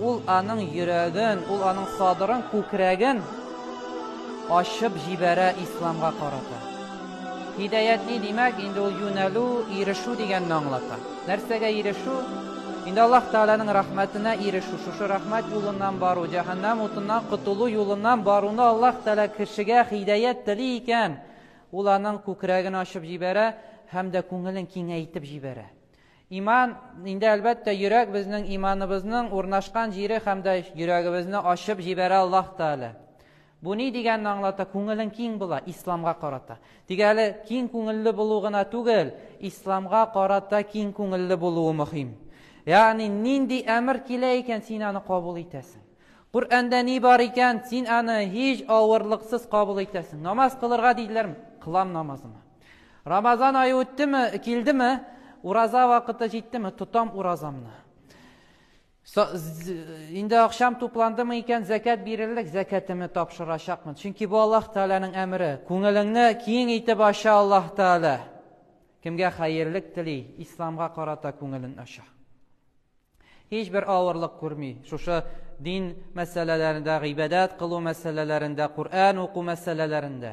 Ул аның йөрәген, ул аның садырын, күкрәген ачып җибәрә исламга карата. Һидаят ни димәк? Инде ул юнәлү, ирешү дигәнне аңлата. Нәрсәгә ирешү? Инде Аллаһ Тәгаләнең рәхмәтенә ирешү, шушы рәхмәт юлыннан бару, җәһәннәм утыннан котылу юлыннан баруны Аллаһ Тәгалә кешегә һидаят тели икән, ул аның күкрәген ачып җибәрә һәм дә күңелен киңәйтеп җибәрә. Иман, инде әлбәттә, йөрәк безнең иманыбызның урнашкан җире һәм дә йөрәгебезне ачып җибәрә Аллаһ Тәгалә. Бу ни дигәнне аңлата? Күңелең киң була, исламга карата. Тик әле киң күңелле булу гына түгел, исламга карата киң күңелле булуы мөһим. Ягъни нинди әмер килә икән, син аны кабул итәсең. Коръәндә ни бар икән, син аны һич авырлыксыз кабул итәсең. Намаз кылырга диделәрме? Кылам намазымны. Рамазан ае үттеме, килдеме, ураза вакыты җиттеме, тотам уразамны. Инде акшам тупландымы икән, зәкәт бирерлек, зәкәтемне тапшырачакмын. Чөнки бу Аллаһ Тәгаләнең әмере. Күңелеңне киң итеп ача Аллаһ Тәгалә. Кемгә хәерлек тели, исламга карата күңелен ача. Һичбер авырлык күрми. Шушы дин мәсьәләләрендә, гыйбадәт кылу мәсьәләләрендә, Коръән уку мәсьәләләрендә.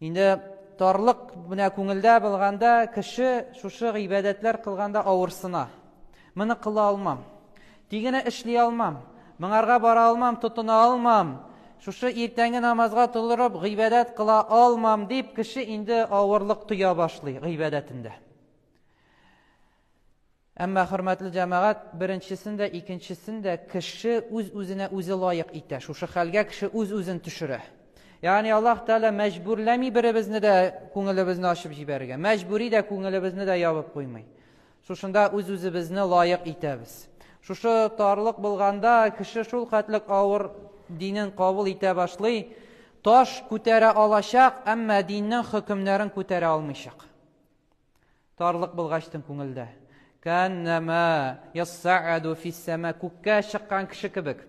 Инде тарлык менә күңелдә булганда, кеше шушы гыйбадәтләр кылганда авырсына. Моны кыла алмам. Тигене эшли алмам. Моңарга бара алмам, тотына алмам. Шушы иртәнге намазга тулырып, гыйбадәт кыла алмам дип, кеше инде авырлык тоя башлый гыйбадәтендә. Әмма, хөрмәтле җәмәгать, беренчесен дә, икенчесен дә кеше үз-үзенә үзе лаек итә. Шушы хәлгә кеше үз-үзен төшерә. Ягъни Аллаһ Тәгалә мәҗбүрләми беребезне дә күңелебезне ачып җибәрергә. Мәҗбүри дә күңелебезне дә ябып куймый. Шушында үз-үзебезне лаек итәбез. Шушы тарлык булганда кеше шул хәтлек авыр динен кабул итә башлый, таш күтәрә алачак, әмма диннең хөкемнәрен күтәрә алмыйчак. Тарлык булгачтын күңелдә. Кәннәмә яссааду фиссәмә күккә чыккан кеше кебек.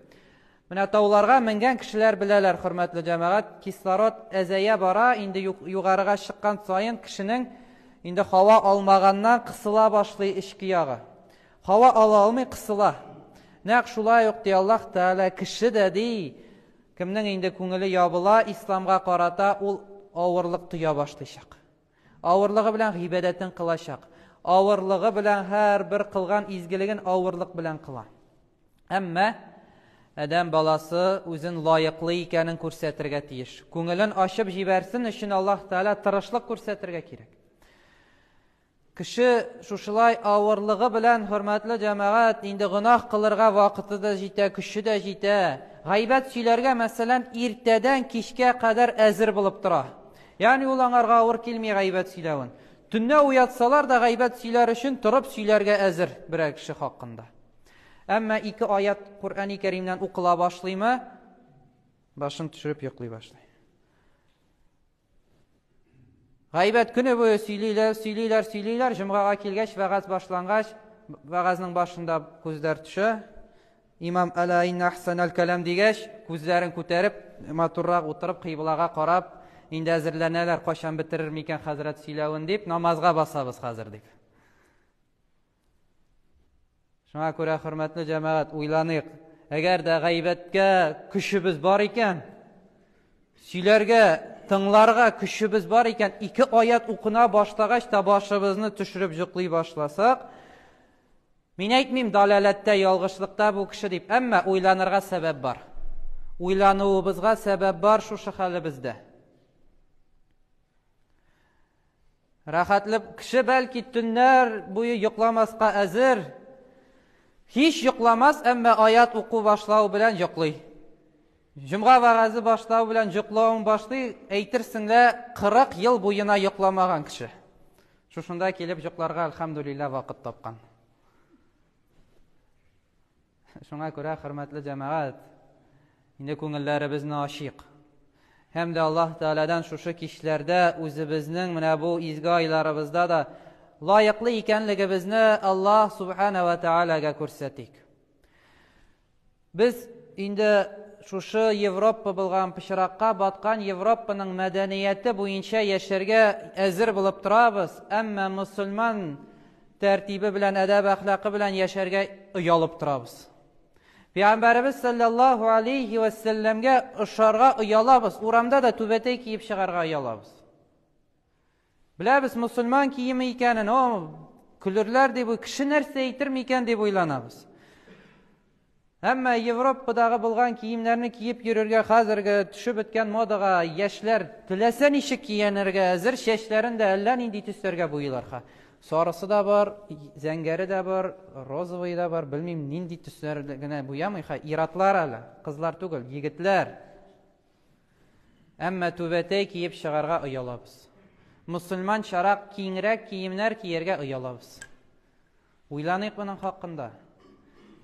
Менә тауларга менгән кешеләр беләләр, хөрмәтле җәмәгать, кислород әзәя бара, инде югарыга чыккан саен кешенең инде һава алмаганнан кысыла башлый эчке ягы. Һава ала алмый кысыла. Нәкъ шулай ук ди Аллаһ Тәгалә кеше дә ди, кемнең инде күңеле ябыла исламга карата, ул авырлык тоя башлыйчак. Авырлыгы белән гыйбадәтен кылачак. Авырлыгы белән һәрбер кылган изгелеген авырлык белән кыла. Әмма Адәм баласы үзен лаеклы икәнен күрсәтергә тиеш. Күңелен ачып җибәрсен өчен Аллаһ Тәгалә тырышлык күрсәтергә кирәк. Кеше шушылай авырлыгы белән, хөрмәтле җәмәгать, инде гөнаһ кылырга вакыты да җитә, көче дә җитә. Гайбәт сөйләргә, мәсәлән, иртәдән кичкә кадәр әзер булып тора. Ягъни ул аңарга авыр килми гайбәт сөйләвен. Төнлә уятсалар да гайбәт сөйләр өчен торып сөйләргә әзер берәр кеше хакында. Әмма ике аят Куръани Кәримнән укыла башлыймы, башын төшереп йоклый башлый. Гайбәт көне буе сөйлиләр, сөйлиләр, сөйлиләр, җомгага килгәч, вәгазь башлангач, вәгазнең башында күзләр төшә, Имам Әлә инна ахсанәл кәлам дигәч, күзләрен күтәреп, матуррак утырып, кыйблага карап, инде әзерләнәләр, кайчан бетерер микән хәзрәт сөйләвен дип, намазга басабыз хәзер дип. Шуңа күрә, хөрмәтле җәмәгать, уйланыйк. Әгәр дә гайбәткә көчебез бар икән, сөйләргә, тыңларга көчебез бар икән, ике аят укына башлагач та башыбызны төшереп җоклый башласак, Мин әйтмим, даләләттә, ялгышлыкта бу кеше дип, әмма уйланырга сәбәп бар. Уйлануыбызга сәбәп бар шушы хәлебездә. Рәхәтлеп, кеше бәлки төннәр буе йокламаска әзер, һич йокламас, әмма аят уку башлау белән йоклый. Җомга вәгазе башлау белән йоклавың башлый, әйтерсең лә 40 ел буена йокламаган кеше. Шушында килеп йокларга альхамдулилла вакыт тапкан. Шуңа күрә хөрмәтле җәмәгать, инде күңелләребезне ачыйк. Һәм дә Аллаһ Тәгаләдән шушы кичләрдә үзебезнең менә бу изге айларыбызда да лаеклы икәнлегебезне Аллаһ Субхана ва Тәгаләгә күрсәтик. Без инде шушы Европа булган пычракка баткан Европаның мәдәнияте буенча яшәргә әзер булып торабыз, әмма мөселман тәртибе белән, әдәп-әхлакы белән яшәргә оялып торабыз. Пәйгамбәребез саллаллаһу алейхи вә сәлләмгә ошарга оялабыз, урамда да түбәтәй киеп чыгарга оялабыз. Беләбез, мөселман киеме икәнен, о, көлерләр дип, кеше нәрсә әйтер микән дип уйланабыз. Әмма Европадагы булган киемнәрне киеп йөрергә хәзерге төшеп беткән модага яшьләр теләсә ничек киянергә әзер, чәчләрен дә әллә нинди төсләргә буйлар. Ха. Сарысы да бар, зәңгәре дә бар, розовый да бар, белмим, нинди төсләр генә буямый. Ха. Иратлар әле, кызлар түгел, егетләр. Әмма түбәтәй киеп чыгарга оялабыз. Мөселманчарак киңрәк киемнәр кияргә оялабыз. Уйланыйк моның хакында.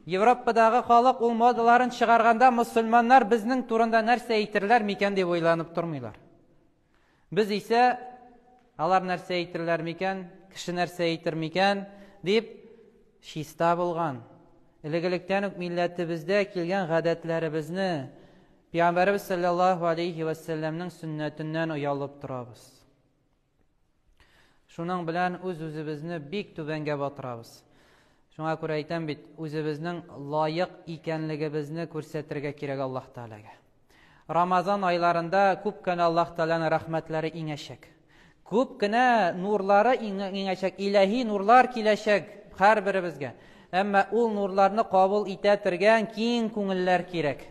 Европадагы халык ул модаларын чыгарганда мөселманнар безнең турында нәрсә әйтерләр микән дип уйланып тормыйлар. Без исә алар нәрсә әйтерләр микән, кеше нәрсә әйтер микән дип чиста булган, элегелектән үк милләтебездә килгән гадәтләребезне Пәйгамбәребез салләллаһу алейһи вә сәлләмнең сөннәтеннән оялып торабыз. Шуның белән үз-үзебезне бик түбәнгә батырабыз. Шуңа күрә әйтәм бит, үзебезнең лаек икәнлегебезне күрсәтергә кирәк Аллаһ Тәгаләгә. Рамазан айларында күп кенә Аллаһ Тәгаләнең рәхмәтләре иңәчәк. Күп кенә нурлары иңәчәк, иләһи нурлар киләчәк һәрберебезгә. Әмма ул нурларны кабул итә тергән киң күңелләр кирәк.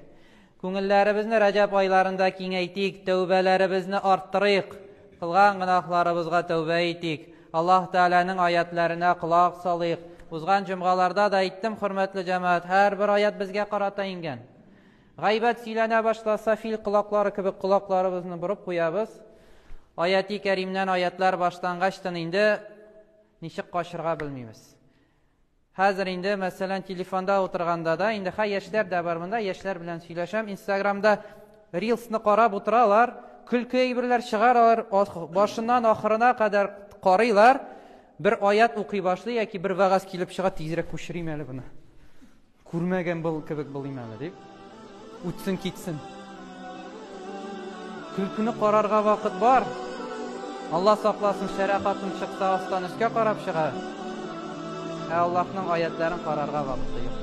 Күңелләребезне Рәҗәб айларында киңәйтик, тәүбәләребезне арттырыйк, кылган гөнаһларыбызга тәүбә итик, Аллаһ Тәгаләнең аятләренә колак салыйк. Узган җомгаларда да әйттем, хөрмәтле җәмәгать, һәрбер аят безгә карата иңгән. Гайбәт сөйләнә башласа, фил колаклары кебек колакларыбызны борып куябыз. Аяти кәримнән аятлар баштангачтын инде ничек качырга белмибез. Хәзер инде, мәсәлән, телефонда утырганда да, инде хә яшьләр дә бар монда, яшьләр белән сөйләшәм, инстаграмда рилсны карап утыралар, көлке әйберләр чыгаралар, башыннан ахырына кадәр карыйлар, бер аят укый башлый яки бер вәгазь килеп чыга, тизрәк күчерим әле буны. Күрмәгән был кебек булыйм әле, дип. Үтсен, китсен. Көлкене карарга вакыт бар. Алла сакласын, шәрә хатын чыкса, астан өскә карап чыга. Ә Аллаһның аятларын карарга вакыты юк.